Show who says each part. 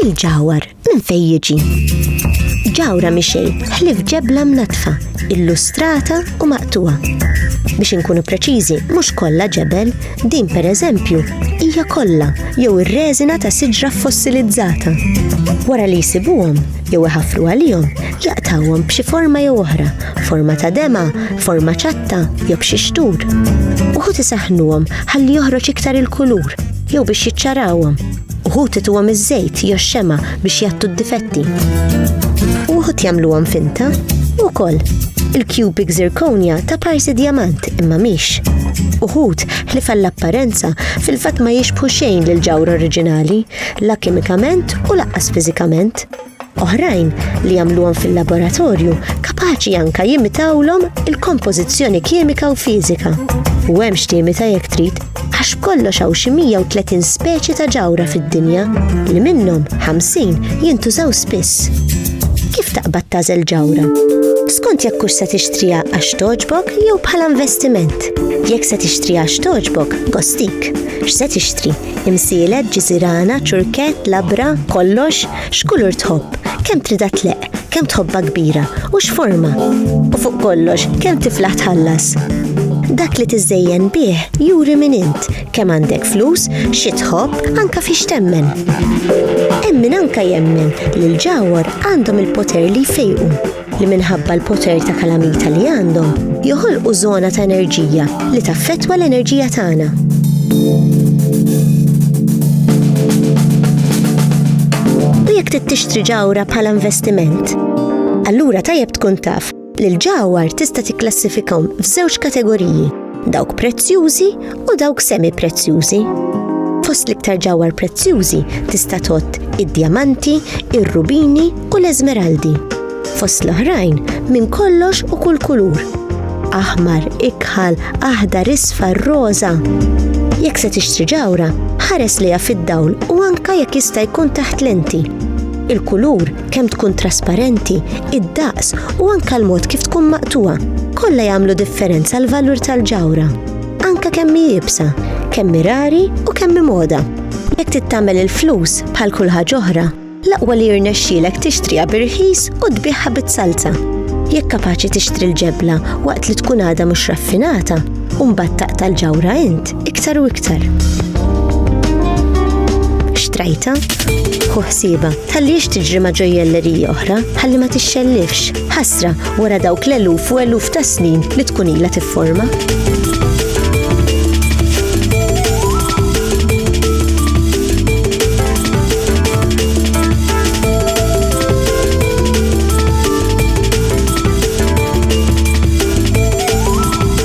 Speaker 1: il-ġawar minn fejn jiġi. Ġawra mixej ħlif ġebla mnatfa, illustrata u maqtuwa. Biex inkunu preċiżi, mhux kollha ġebel, din pereżempju hija kollha jew ir-reżina ta' siġra fossilizzata. Wara li jsibuhom jew iħafru għalihom, jaqtawhom b'xi forma jew oħra forma ta' dema, forma ċatta jew b'xi xtur. Uħud isaħnuhom ħalli joħroġ iktar il-kulur jew biex jiċċarawhom. Uħud ituhom iż-żejt jew xema biex jattu d-difetti. Uħud jagħmluhom finta ukoll il-cubic zirkonja ta' parsi diamant imma miex. Uħud li fall-apparenza fil-fat ma jixbħu xejn l-ġawra oriġinali, la kimikament u laqqas fizikament. oħrajn li jagħmluhom fil-laboratorju kapaċi anka jimitawlhom il-kompożizzjoni kimika u fiżika. U hemm x'tiemi ta' jekk trid għax kollox hawn xi 130 speċi ta' ġawra fid-dinja li minnhom 50 jintużaw spiss. Kif taqbad tażel ġawra? Skont jekk hux se tixtrija għax toġbok jew bħala investiment. Jekk se tixtrija għax toġbok, gostik. X'se tixtri? Imsielet, ġiżirana, ċurkett, labra, kollox? X'kulur tħobb? Kemm tridha tleqq? Kemm tħobbha kbira? U x'forma? U fuq kollox, kemm tiflaħ tħallas? Dak li tiżżejjen bih juri min int, kemm għandek flus, xi tħobb, anke fiex temmen. Hemm min anke jemmen li l-ġawhar għandhom il-poter li jfejqu. li minħabba l-poter ta' kalamita li għandhom, joħolqu żona ta' enerġija li taffettwa l-enerġija tagħna. U jekk trid tixtri ġawra bħala investiment, allura tajjeb tkun taf li l-ġawhar tista' tikklassifikahom f'żewġ kategoriji. dawk prezzjużi u dawk semi-prezzjużi. Fost l-iktar ġawar prezzjużi tista' tot id-djamanti, ir-rubini u l-eżmeraldi. Fost l-oħrajn minn kollox u kull kulur. Aħmar, ikħal, aħdar, isfar, roża. Jekk se tixtri ġawra, ħares liha fid-dawl u anka jekk jista' jkun taħt lenti. Il-kulur kemm tkun trasparenti, id-daqs u anke l-mod kif tkun maqtuha, kollha jagħmlu differenza l-valur tal-ġawra. Anke kemm hi ibsa, kemm rari u kemm moda. Jekk tittamel il-flus bħal kull ħaġa oħra, l-aqwa li jirnexxielek tixtriha bi rħis u tbigħha bit-salza. Jekk kapaċi tixtri l-ġebla waqt li tkun għadha mhux raffinata, u mbagħad taqta' l-ġawra int, Iktar u iktar. Xtrajta? Hu ħsieba, ħalliex tiġri ma' ġojjellerija oħra, ħalli ma tixxellifx, ħasra wara dawk l-eluf u eluf ta' snin li tkun ilha tifforma.